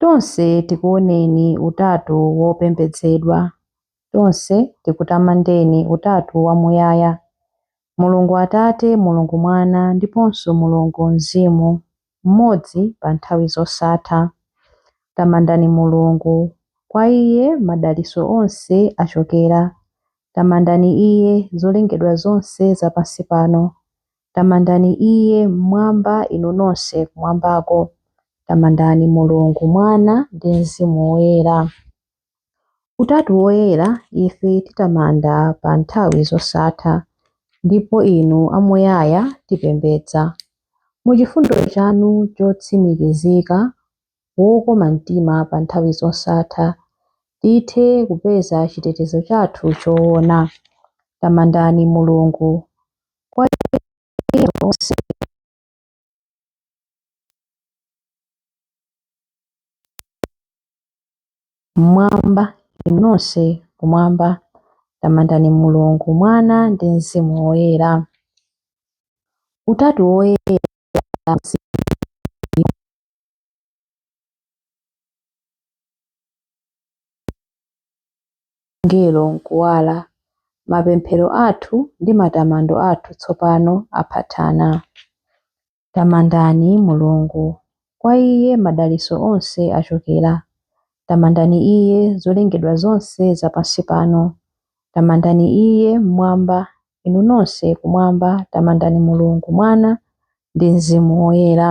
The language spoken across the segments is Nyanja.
Tonse tikuoneni Utatu wopembedzedwa. Tonse tikutamandeni Utatu wamuyaya, Mulungu Atate, Mulungu Mwana, ndiponso Mulungu Mzimu, mmodzi pa nthawi zosatha. Tamandani Mulungu! Kwa Iye madalitso onse achokera. Tamandani Iye, zolengedwa zonse za pansi pano! Tamandani Iye mmwamba, inu nonse kumwambako. Tamandani Mulungu, Mwana, ndi Mzimu Woyera. Utatu woyera ife titamanda pa nthawi zosatha, ndipo inu amuyaya tipembedza. Mu chifundo chanu chotsimikizika, wokoma mtima pa nthawi zosatha, tithe kupeza chitetezo chathu choona. Tamandani Mulungu, kwa iye onse. Mmwamba inu nonse kumwamba, tamandani Mulungu, Mwana ndi Mzimu Woyera. Utatu woyera angelo m'kuwala, mapemphero athu ndi matamando athu tsopano aphathana. Tamandani Mulungu! Kwa Iye madalitso onse achokera. Tamandani Iye, zolengedwa zonse za pansi pano. Tamandani Iye, m'mwamba, inu nonse kumwamba, tamandani Mulungu, Mwana, ndi Mzimu Woyera.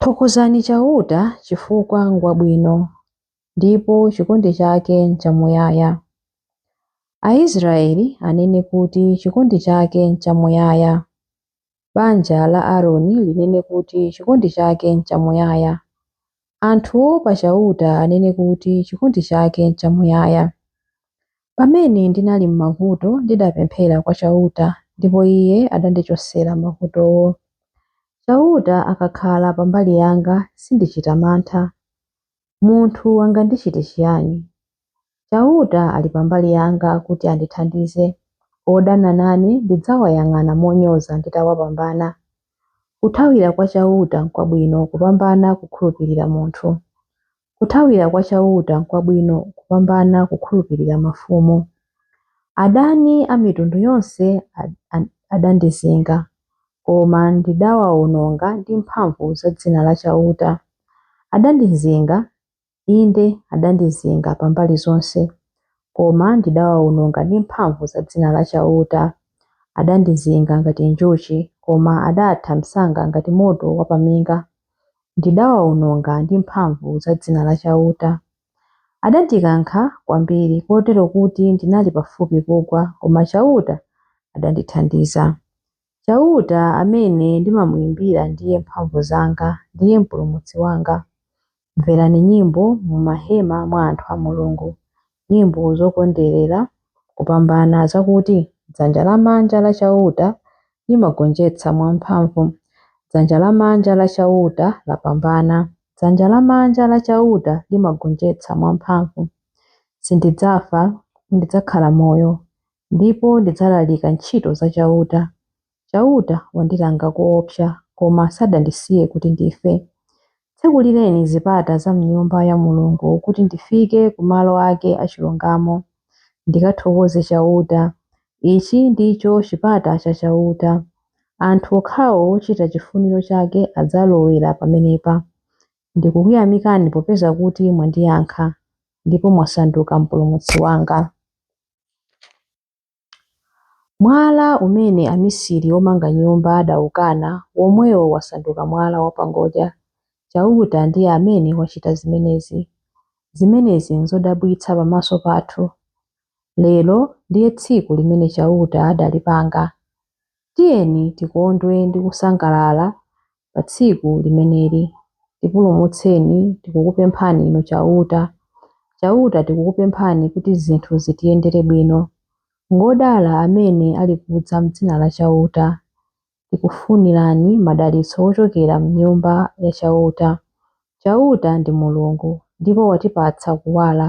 Thokozani Chauta chifukwa ngwabwino, ndipo chikondi chake nchamuyaya. Aisraele anene kuti chikondi chake nchamuyaya. Banja la Aroni linene kuti chikondi chake nchamuyaya. Anthu oopa Chauta anene kuti chikondi chake nchamuyaya. Pamene ndinali m'mavuto, ndidapemphera kwa Chauta, ndipo Iye adandichotsera mavutowo. Chauta akakhala pa mbali yanga, sindichita mantha. Munthu angandichite chiyani? Chauta ali pa mbali yanga kuti andithandize. Odana nane ndidzawayang'ana monyoza nditawapambana. Kuthawira kwa Chauta nkwabwino kupambana kukhulupirira munthu. Kuthawira kwa Chauta nkwabwino kupambana kukhulupirira mafumu. Adani a mitundu yonse adandizinga, koma ndidawaononga ndi mphamvu za dzina la Chauta. Adandizinga, Inde, adandizinga pa mbali zonse, koma ndidawaononga ndi mphamvu za dzina la Chauta. Adandizinga ngati njuchi, koma adatha msanga ngati moto wapaminga. Ndidawaononga ndi mphamvu za dzina la Chauta. Adandikankha kwambiri, kotero kuti ndinali pafupi kugwa, koma Chauta adandithandiza. Chauta amene ndimamuimbira ndiye mphamvu zanga, ndiye Mpulumutsi wanga. Mverani nyimbo mu mahema mwa anthu a Mulungu, nyimbo zokondwerera kupambana, zakuti, Dzanja lamanja la Chauta limagonjetsa mwamphamvu. Dzanja lamanja la Chauta lapambana. Dzanja lamanja la Chauta limagonjetsa mwamphamvu. Sindidzafa, ndidzakhala moyo, Ndipo ndidzalalika ntchito za Chauta. Chauta wandilanga koopsa, koma sadandisiye kuti ndife. Tsekulireni zipata za m'Nyumba ya Mulungu kuti ndifike ku malo ake achilungamo, ndikathokoze Chauta. Ichi ndicho chipata cha Chauta. Anthu okhawo ochita chifuniro chake adzalowera pamenepa. Ndikukuyamikani popeza kuti mwandiyankha, ndipo mwasanduka mpulumutsi wanga. Mwala umene amisiri omanga nyumba adaukana, womwewo wasanduka mwala wapangodya. Chauta ndiye amene wachita zimenezi. Zimenezi nzodabwitsa pamaso pathu. Lero ndiye tsiku limene Chauta adalipanga. Tiyeni tikondwe ndi kusangalala pa tsiku limeneli. Tipulumutseni, tikukupemphani Inu Chauta. Chauta, tikukupemphani kuti zinthu zitiyendere bwino. Ngodala amene alikudza m'dzina la Chauta. Tikufunirani madalitso ochokera m'Nyumba ya Chauta. Chauta ndi Mulungu, ndipo watipatsa kuwala.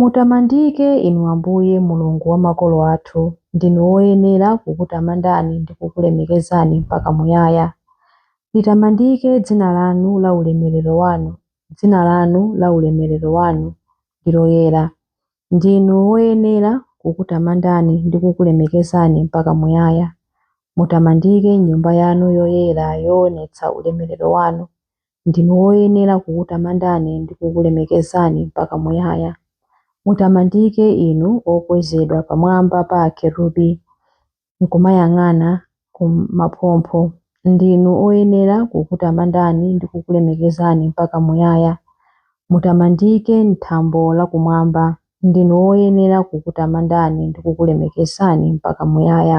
Mutamandike Inu Ambuye, Mulungu wa makolo athu, ndinu woyenera kukutamandani ndi kukulemekezani mpaka muyaya. Litamandike dzina lanu la ulemerero wanu, dzina lanu la ulemerero wanu ndi loyera. Ndinu woyenera kukutamandani ndi kukulemekezani mpaka muyaya. Mutamandike m'nyumba yanu yoyera yoonetsa ulemerero wanu, Ndinu woyenera kukutamandani ndi kukulemekezani mpaka muyaya. Mutamandike Inu okwezedwa pamwamba pa akerubi, nkumayang'ana ku maphompho. Ndinu oyenera kukutamandani ndi kukulemekezani mpaka muyaya. Mutamandike m'thambo la kumwamba. Ndinu oyenera kukutamandani ndi kukulemekezani mpaka muyaya.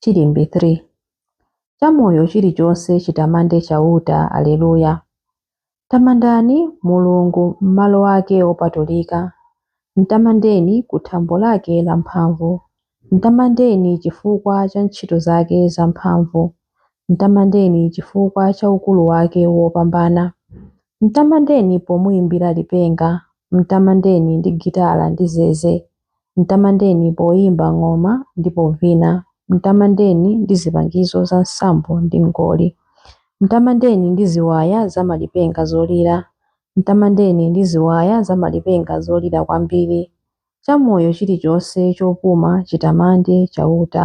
Chilimbi 3. Chamoyo chilichonse chitamande Chauta. Aleluya. Tamandani Mulungu m'malo ake opatulika, mtamandeni ku thambo lake lamphamvu. Mtamandeni chifukwa cha ntchito zake zamphamvu, mtamandeni chifukwa cha ukulu wake wopambana. Mtamandeni pomuimbira lipenga, mtamandeni ndi gitara ndi zeze. Mtamandeni poimba ng'oma ndi povina, mtamandeni ndi zipangizo za nsambo ndi ngoli. Mtamandeni ndi ziwaya za malipenga zolira, mtamandeni ndi ziwaya za malipenga zolira kwambiri. Chamoyo chilichonse chopuma chitamande Chauta.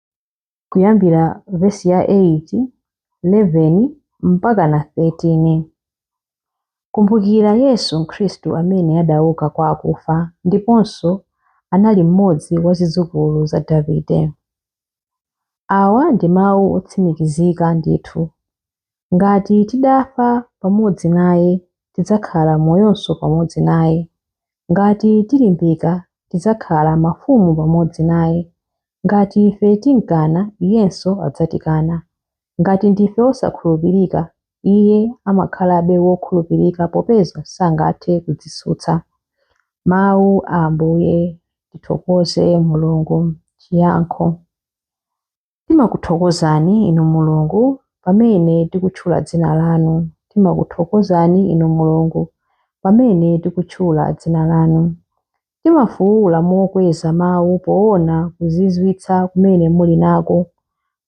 kuyambira vesi ya 8, 11 mpakana 13. Kumbukira Yesu Khristu amene adauka kwa akufa ndiponso anali mmodzi wa zidzukulu za Davide. Awa ndi mawu otsimikizika ndithu Ngati tidafa pamodzi naye, tidzakhala moyonso pamodzi naye. Ngati tilimbika, tidzakhala mafumu pamodzi naye. Ngati ife timkana, iyenso adzatikana. Ngati ndife osakhulupirika, iye amakhalabe wokhulupirika popeza sangathe kudzitsutsa. Mawu a Ambuye. Tithokoze Mulungu. Chiyankho. Timakuthokozani, Inu Mulungu, pamene tikutchula dzina lanu. Timakuthokozani, Inu Mulungu, pamene tikutchula dzina lanu. Timafuula mokweza mawu poona kuzizwitsa kumene muli nako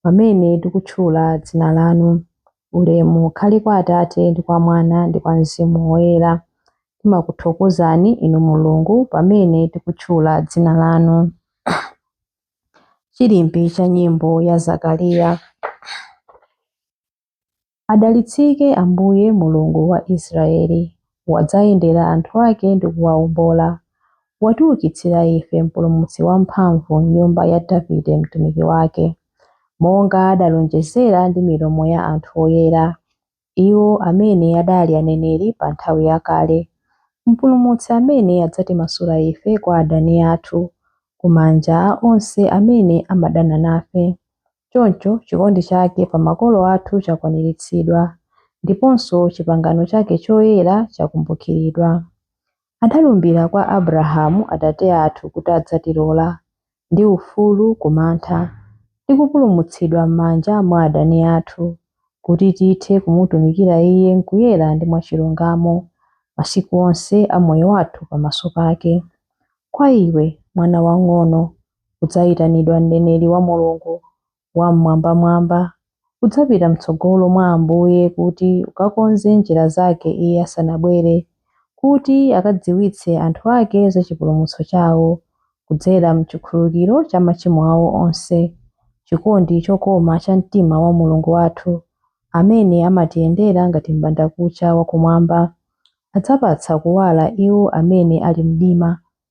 pamene tikutchula dzina lanu. Ulemu ukhale kwa Atate ndi kwa Mwana ndi kwa Mzimu Woyera. Timakuthokozani, Inu Mulungu, pamene tikutchula dzina lanu. Chilimbi cha nyimbo ya Zakariya. Adalitsike Ambuye Mulungu wa Israeli, wadzayendera anthu ake ndi kuwawombola. Watiukitsira ife mpulumutsi wamphamvu m'nyumba ya Davide mtumiki wake, monga adalonjezera ndi milomo ya anthu oyera. iwo amene adali aneneri pa nthawi yakale, Mpulumutsi amene adzatimasula ife kwa adani athu, ku manja a onse amene amadana nafe. Choncho, chikondi chake pa makolo athu chakwaniritsidwa, ndiponso chipangano chake choyera chakumbukiridwa. Adalumbira kwa Abrahamu atate athu kuti adzatilola, ndi ufulu ku mantha, ndi kupulumutsidwa m'manja mwa adani athu, kuti tithe kumutumikira Iye m'kuyera ndi mwachilungamo, masiku onse a moyo wathu pamaso pake. Kwa iwe, mwana wang'ono, udzayitanidwa mneneri wa Mulungu, Wam'mwambamwamba, udzapita m'tsogolo mwa Ambuye kuti ukakonze njira zake Iye asanabwere, kuti akadziwitse anthu ake za chipulumutso chawo, kudzera m'chikhululukiro cha machimo awo onse, chikondi chokoma cha mtima wa Mulungu wathu, amene amatiyendera ngati m'bandakucha wakumwamba, adzapatsa kuwala iwo amene ali mumdima,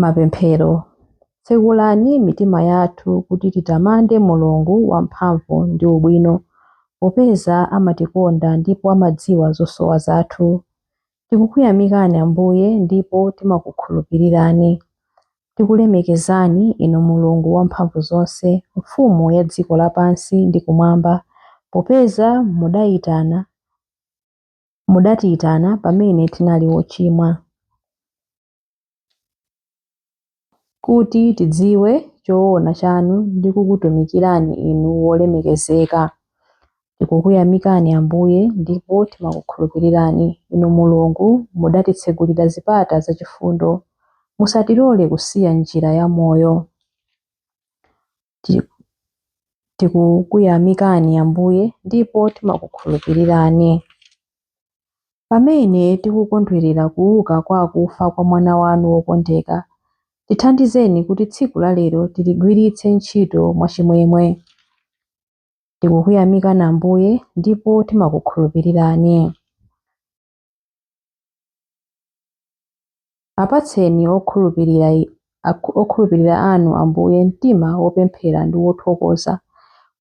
Mapemphero Tsekulani mitima yathu kuti titamande Mulungu wamphamvu ndi ubwino popeza amatikonda ndipo amadziwa zosowa zathu. Tikukuyamikani Ambuye ndipo timakukhulupirirani. Tikulemekezani Inu Mulungu wamphamvu zonse, Mfumu ya dziko lapansi ndi kumwamba popeza mudaitana Mudatiyitana pamene tinali wochimwa, kuti tidziwe choona chanu ndi kukutumikirani Inu wolemekezeka. Tikukuyamikani Ambuye, ndipo timakukhulupirirani. Inu Mulungu, mudatitsegulira zipata za chifundo. Musatilole kusiya njira ya moyo. Tikukuyamikani Ambuye ndipo timakukhulupirirani. Pamene tikukondwerera kuuka kwa akufa kwa mwana wanu wokondeka, tithandizeni kuti tsiku la lero tiligwiritse ntchito mwachimwemwe. Tikukuyamikani Ambuye ndipo timakukhulupirirani. Apatseni okhulupirira anu, Ambuye, mtima wopemphera ndi wothokoza,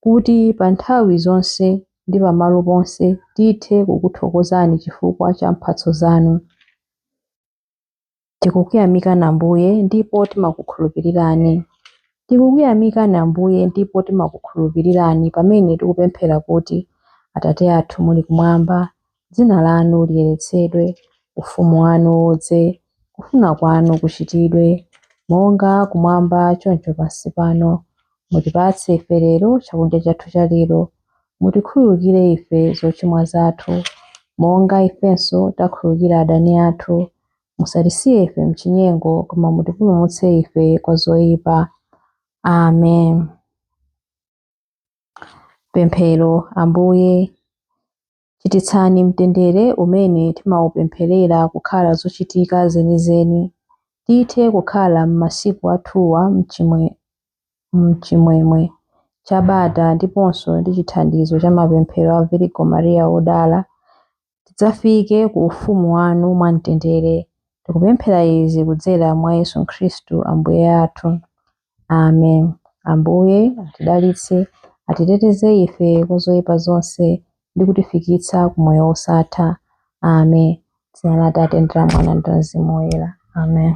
kuti pa nthawi zonse ndi pamalo ponse tithe kukuthokozani chifukwa cha mphatso zanu. Tikukuyamikani Ambuye ndipo timakukhulupirirani. Tikukuyamikani Ambuye ndipo timakukhulupirirani pamene tikupemphera kuti, Atate athu muli kumwamba, dzina lanu liyeretsedwe, ufumu wanu udze, kufuna kwanu kuchitidwe, monga kumwamba choncho pansi pano. Mutipatse ife lero chakudya chathu cha lero. Mutikhululukire ife zochimwa zathu, monga ifenso takhululukira adani athu. Musatisiye ife m'chinyengo, koma mutipulumutse ife kwa zoyipa. Amen. Pemphero, Ambuye, Chititsani mtendere umene timaupempherera kukhala zochitika zenizeni, tithe kukhala m'masiku athuwa m'chimwemwe cha bata ndiponso ndi chithandizo cha mapemphero a Virigo Maria Wodala, tidzafike ku ufumu wanu mwamtendere. Tikupemphera izi kudzera mwa Yesu Khristu Ambuye athu. Amen. Ambuye atidalitse, atiteteze ife kwa zoyipa zonse ndi kutifikitsa ku moyo wosatha. Amen. Dzina la Atate ndi la Mwana ndi la Mzimu Woyera. Amen.